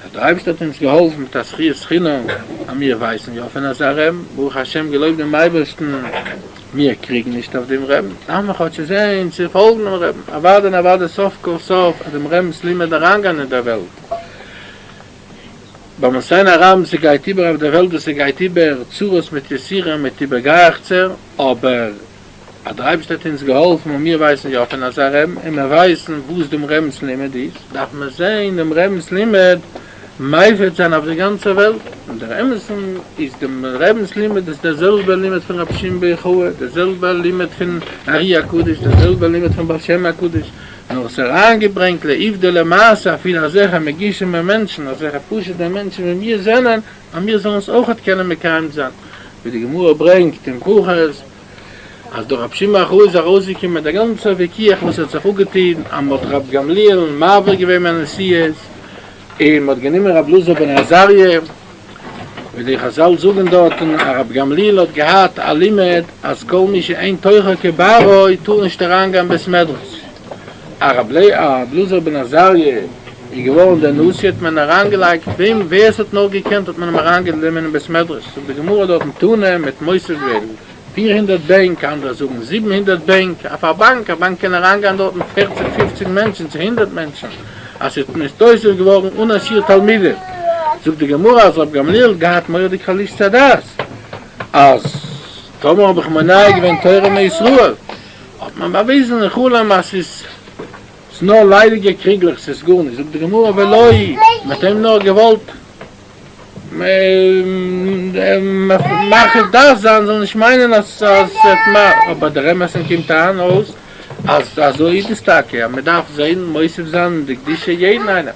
אז דער אייבערשטער האט אונז געהאלפן מיט א זכיית חינם אז מיר ווייסן יא פון אזא רעבן, ברוך השם געלויבט דעם אייבערשטן מיר קריגן נישט אויף דעם רעבן, דארף מען כאטש עס זען צו פאלגן דעם רעבן, אוואדע און אוואדע סוף כל סוף אז דעם רעבנ'ס לימוד אריינגיין אין דער וועלט, ביים עס זען א רעבן עס גייט איבער אויף דער וועלט וואס עס גייט איבער צרות מיט יסורים מיט איבערגייעכצער, אבער. אז דער אייבערשטער האט אונז געהאלפן און מיר ווייסן יא פון אזא רמ א, מיר ווייסן וואס דעם רמב'ס לימוד איז, דארף מען זען דעם רמב'ס לימוד מפיץ זיין אויף דער גאנצער וועלט, און דער אמת'ן איז דעם רמב'ס לימוד איז דער זעלבער לימוד פון רבי שמעון בר יוחאי, דער זעלבער לימוד פון אר י הקדוש, דער זעלבער לימוד פון בעל שם הקדוש, נאר עס אריינגעברענגט לעובדא למעשה, אפי' אזעלכע מגושמ'ע מענטשן, אזעלכע פשוט'ע מענטשן ווי מיר זענען, אז מיר זאלן עס אויכעט קענען מקיים זיין, ווי די גמרא ברענגט אין ברכות, אז דורך רבי שמעון אחאי איז ארויסגעקומען דער גאנצער וויכוח וואס האט זיך אפגעטון אז מ'האט רבי גמליאל'ן מעביר געווען מהנשיאות, און מ'האט גענומען רבי אלעזר בן עזריה, ווי די חזל זאגן דארטן אז רבי גמליאל האט געהאט א לימוד אז כל מי שאין תוכו כברו טאר נישט אריינגיין בית מדרש, אז רבי אלעזר בן עזריה איז געווארן דער נשיא האט מען אריינגעלייגט וועם ווער עס האט נאר געקענט האט מען אים אריינגענומען אין בית מדרש זאגט די גמרא דארטן תנא מ'האט מוסיף געווען פיר הונדערט בענק אנדערע זאגן זיבן הונדערט בענק אויף א באנק א באנק קען אריינגיין דארטן פערציג פופציג מענטשן צו הונדערט מענטשן אז ס'האט נתאוסף געווארן אן א שיעור תלמידים זאגט די גמרא אז רבי גמליאל האט געהאט מורא'דיג חלישות הדעת אז טאמער האב איך מונע געווען תורה מישראל האט מען באוויזן אין חלום אז ס'איז ס'איז נאר ליידיגע קריגלעך ס'איז גארנישט זאגט די גמרא ולא היא מ'האט אים נאר געוואלט מרחיב דעת זיין זאל נישט מיינען אז ס'האט מ אבער דער אמת'ן קומט אהן אויס אז אזוי איז דאס טאקע אז מ'דארף זען מוסיף זיין אין די קדושה יעדן איינעם.